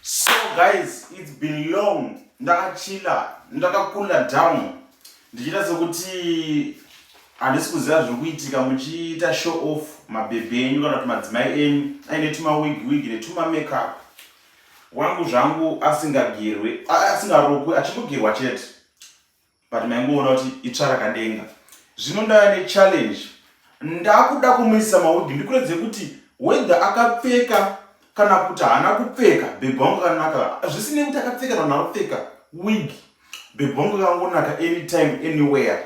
So guys, it's been long ndakachila ndakakula down ndichiita sekuti handisi kuziva zviri kuitika muchiita show off mabhebhi enyu kana kuti madzimai enyu aine tumawig wig netumamakeup wangu zvangu asingagerwe asingarokwe achingogirwa chete but maingoona kuti itsva rakadenga zvino ndava nechallenge ndakuda kumuisa mawigi ndikuredze kuti whether akapfeka kana kuti haana kupfeka bhebhi wangu akanaka zvisinei kuti akapfeka kana akapfeka wig bhebhi wangu akangonaka anytime anywhere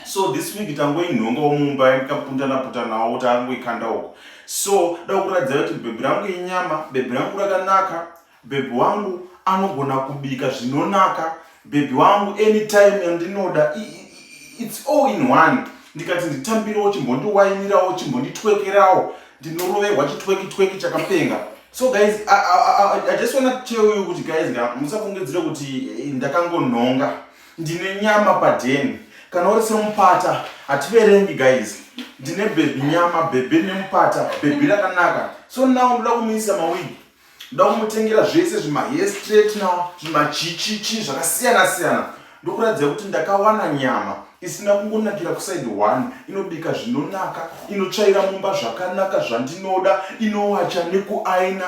so this week tangoinhongawo mumba ndikapundana putanawo kuti angoikanda uko so da kuratidza kuti bhebhi rangu inyama bhebhi rangu rakanaka Bhebhi wangu anogona kubika zvinonaka. Bhebhi wangu anytime yandinoda its all in one. Ndikati nditambirewo chimbondiwainirawo chimbonditwekerawo ndinoroverwa chitweki tweki chakapenga. So guys, I, I, I, I just wanna tell you kuti guys nga musafungidzire kuti eh, ndakangonhonga. Ndine nyama padheni. Kana uri semupata hativerengi guys. Ndine bhebhi nyama, bhebhi nemupata, bhebhi rakanaka. So now ndoda kumuisa mawigi. Ndoda kumutengera zvese zvima hair straightener, zvima chichichi zvakasiyana siyana ndokuratidza kuti ndakawana nyama isina kungonakira kuside one inobika zvinonaka inotsvaira mumba zvakanaka zvandinoda inowacha nekuaina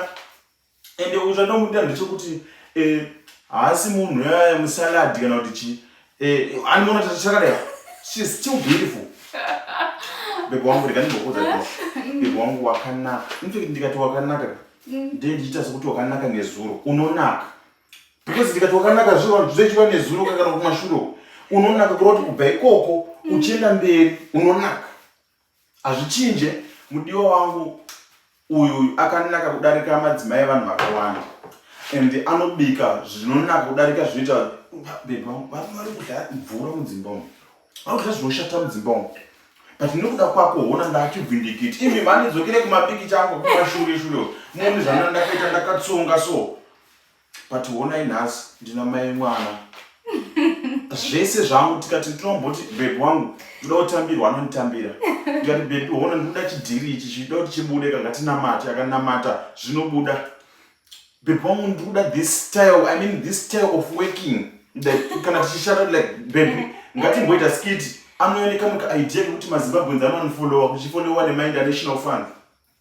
ende zvandomuda ndechekuti eh, haasi munhu yaya musaladi kana kuti chii Eh, ani mona tachakadai. She is still beautiful. Bebe wangu rega ndimbokuza kuti bebe wangu wakanaka. In fact ndikati wakanaka ndiye ndichiita sekuti wakanaka nezuro. Unonaka. Because ndikati wakanaka zviro vanhu zvechiva nezuro kana kumashure. Unonaka kuroti kubva ikoko uchienda mberi unonaka. Hazvichinje mudiwa wangu uyu uyu akanaka kudarika madzimai evanhu vakawanda and anobika zvinonaka kudarika zvinoita beba vari kudya mvura mudzimba umu vari kudya zvinoshata mudzimba umu but nekuda kwako hona ndachibvindikiti imi mhani dzokere kumabiki changu kumashure shure moni zvana ndakaita ndakatsonga so but honai nhasi ndina mai mwana zvese zvangu tikati tinomboti bebi wangu ndoda kutambirwa anonditambira tikati bebi hona ndikuda chidhiri ichi chida kuti chibude kangatinamati akanamata zvinobuda bebi wangu ndikuda this style i mean this style of working kana tichishata like bebi ngatimboita skiti anooneka muka idea kekuti mazimbabwenzi anonifolowa kuchifolewa nemainternational fund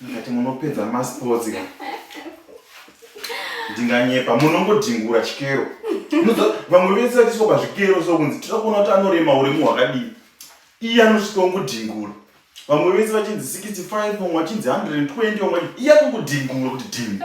ndikati munopedza masports ka ndinganyepa munongodhingura chikero vamwe vese vatiswa pazvikero so kunzi tira kuona kuti anorema uremu hwakadii iye anosvika ungodhingura vamwe vese vachinzi 65 vamwe vachinzi 120 vamwe iye akungudhingura kuti dhingu